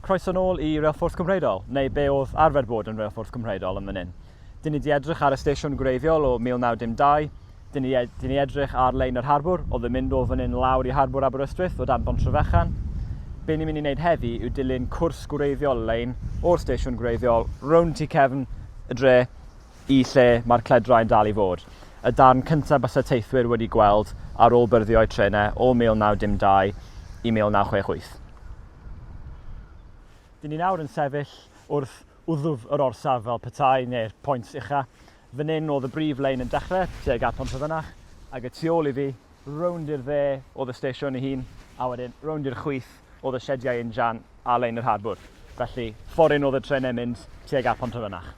Croeso nôl i Reilffordd Cymreidol, neu be oedd arfer bod yn Reilffordd Cymreidol yn fan hyn. Dyn ni di edrych ar y stesiwn gwreiddiol o 1912, dyn ni, dyn ni edrych ar lein yr harbwr, oedd yn mynd o fan hyn lawr i harbwr Aberystwyth o dan Bontrefechan. Be ni'n mynd i wneud heddi yw dilyn cwrs gwreiddiol lein o'r stesiwn gwreiddiol, rown tu cefn y dre, Y lle mae'r cledrau yn dal i fod. Y darn cyntaf byse teithwyr wedi gweld ar ôl byrddio eu trenau o 1912 i 1968. Dyn ni nawr yn sefyll wrth wddf yr orsaf fel petai, neu'r point ucha. Fan hyn oedd y brif lein yn dechrau, tuag at Pontefynach, ac y tu ôl i fi, rownd i'r dde oedd y stesion ei hun, a wedyn rownd i'r chwith, oedd y siediau injan ar lein yr harbwr, felly ffordd un oedd y trenau'n mynd tuag at Pontrefynach.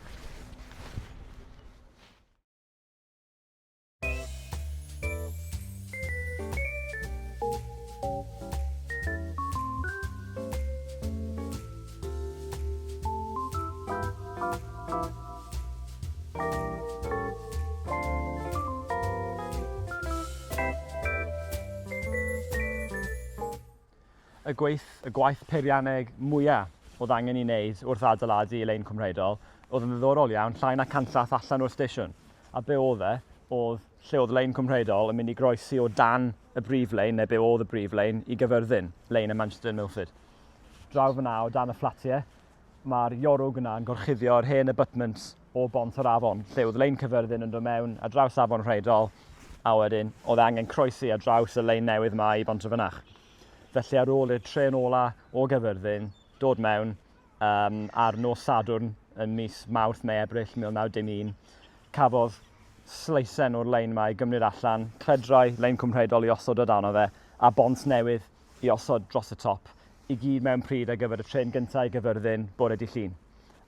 Y gwaith, y gwaith peirianneg mwya oedd angen i wneud wrth adeiladu y lein cwmreidol oedd yn ddiddorol iawn, llai na canllath allan o'r stesiwn. A be oedd e? Oedd lle oedd lein cwmreidol yn mynd i groesi o dan y brif lein, neu be oedd y brif lein, i Gyfyrddin, lein y Manchester Milford. Draw fyna o dan y fflatiau, Mae'r jorwg yna yn gorchuddio'r hen abutments o bont yr afon, lle oedd lein Cyfyrddin yn dod mewn ar draws afon Rheidol, a wedyn oedd angen croesi ar draws y lein newydd yma i bont y fynach. Felly ar ôl i'r tren ola o Gyfyrddin dod mewn um, ar nos Sadwrn yn mis Mawrth neu Ebrill 1911, cafodd sleisen o'r lein yma i gymryd allan, cledrau lein cwmrheidol i osod o dan o fe, a bont newydd i osod dros y top i gyd mewn pryd ar gyfer y trên gyntaf i Gaerfyrddin bore dydd Llun,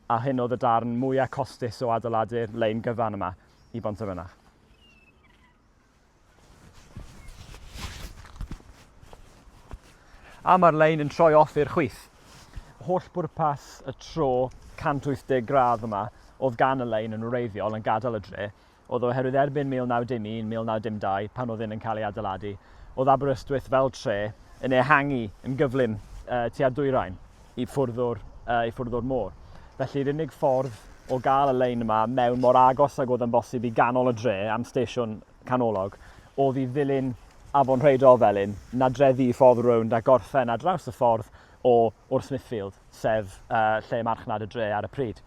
a hyn oedd y darn mwyaf costus o adeiladu'r lein gyfan yma i Bontarfynach. A mae'r lein yn troi off i'r chwith. Holl bwrpas y tro 180 gradd yma oedd gan y lein yn wreiddiol yn gadael y dre, oedd oherwydd erbyn 1911, 1912, pan oedd hyn yn cael ei adeiladu, oedd Aberystwyth fel tre yn ehangu yn gyflym uh, tua'r dwyrain i ffwrdd o'r, uh, i ffwrdd o'r môr. Felly, yr unig ffordd o gael y lein yma mewn mor agos ag oedd yn bosib i ganol y dre am stesiwn canolog oedd i ddilyn afon Rheidol Felin, nadreddu i ffordd rownd a gorffen ar draws y ffordd o, o'r Smithfield, sef uh, lle marchnad y dre ar y pryd.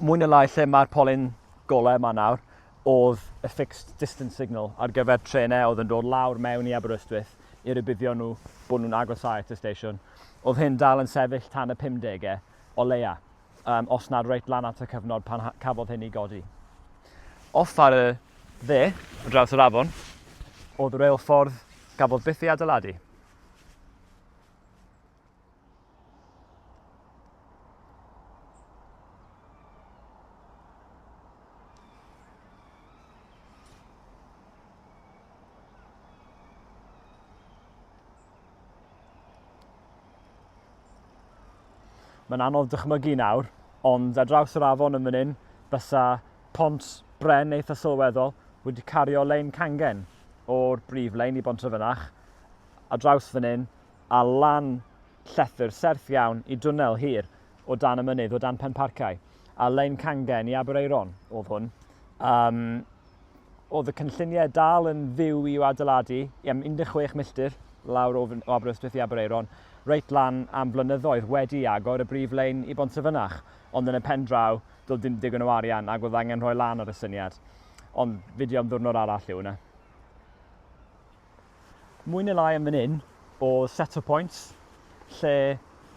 mwy na lai lle mae'r polyn golau yma nawr, oedd y fixed distance signal ar gyfer trenau oedd yn dod lawr mewn i Aberystwyth i rybuddio nhw bod nhw'n agosáu at y steisiwn. Oedd hyn dal yn sefyll tan y 50au, o leia, um, os nad reit lan at y cyfnod pan cafodd hyn i godi. Off ar y dde, o draws yr afon, oedd reilffordd gafodd byth ei adeiladu. Mae'n anodd dychmygu nawr, ond ar draws yr afon yn fan hyn, bysa pont bren eitha sylweddol wedi cario lein cangen o'r brif lein i Bont y Fynach. A draws fan hyn, a lan llethr serth iawn i dwnnel hir o dan y mynydd o dan Penparcau, a lein cangen i Aberaeron oedd hwn. Um, oedd y cynlluniau dal yn fyw i'w adeiladu i am 16 milltir lawr o, o Aberystwyth i Aberaeron, reit lan am flynyddoedd wedi agor y brif lein i Bontrefynach, ond yn y pen draw, doedd dim digon o arian ac oedd angen rhoi lan ar y syniad. Ond fideo am ddwrnod arall yw hwnna. mwy neu lai yn fan hyn oedd set o pwynt lle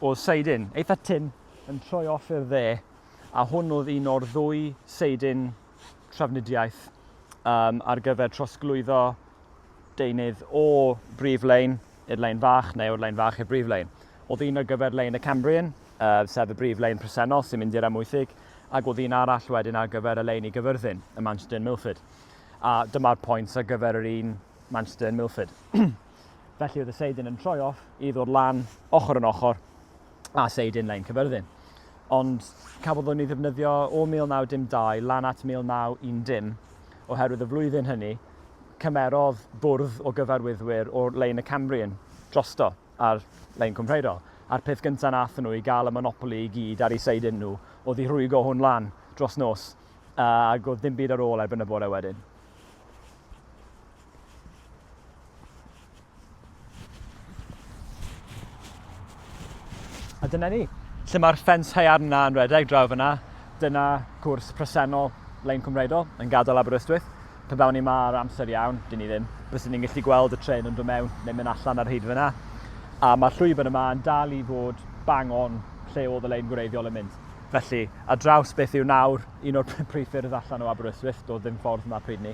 oedd seidyn eitha tynn yn troi off i'r dde a hwn oedd un o'r ddwy seidyn trafnidiaeth um, ar gyfer trosglwyddo deunydd o brif lein i'r lein fach neu o'r lein fach i'r brif lein. Oedd un ar gyfer lein y Cambrian, uh, sef y brif lein presennol sy'n mynd i'r amwythig, ac oedd un arall wedyn ar gyfer y lein i gyfyrddin, y Manchester Milford. A dyma'r points ar gyfer yr un Manchester yn Milford. Felly oedd y Seidyn yn troi off i ddod lan ochr yn ochr a Seidyn Lein Cyfyrddin. Ond cafodd hwn ei ddefnyddio o 1912 lan at 1910 oherwydd y flwyddyn hynny cymerodd bwrdd o gyfarwyddwyr o'r lein y Cambrian drosto ar lein Cwmreiro. A'r peth gyntaf nath nhw i gael y monopoli i gyd ar ei Seidyn nhw oedd i rhwygo hwn lan dros nos ac oedd dim byd ar ôl erbyn y bore wedyn. A dyna ni. Lle mae'r ffens haearn yna yn redeg draw fyna, dyna cwrs presennol Lein Cymreidol yn gadael Aberystwyth. Pe bawn ni ma ar amser iawn, dyn ni ddim, byswn ni'n gallu gweld y tren yn dod mewn neu mynd allan ar hyd fyna. A mae'r llwybr yma yn dal i fod bang on lle oedd y lein gwreiddiol yn mynd. Felly, ar draws beth yw nawr un o'r prif ffyrdd allan o Aberystwyth, doedd ddim ffordd yma pryd ni,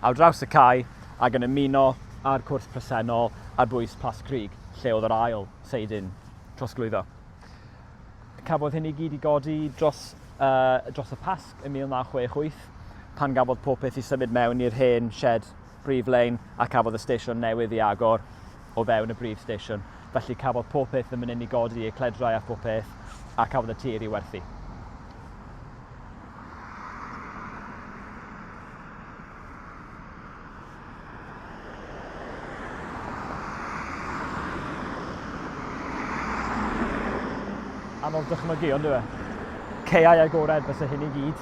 ar draws y cae ac yn ymuno â'r cwrs presennol ar bwys Plas Crug, lle oedd yr ail seidyn trosglwyddo. Cafodd hyn i gyd i godi dros, uh, dros y Pasg ym 1968, pan gafodd popeth i symud mewn i'r hen shed prif lein a cafodd y stesion newydd ei agor o fewn y brif stesion. Felly cafodd pob peth yn fan hyn i godi, y cledrau a phob peth, a cafodd y tir i werthu. anodd dychmygu, ond yw e? Ceiau agored fysa hyn i gyd.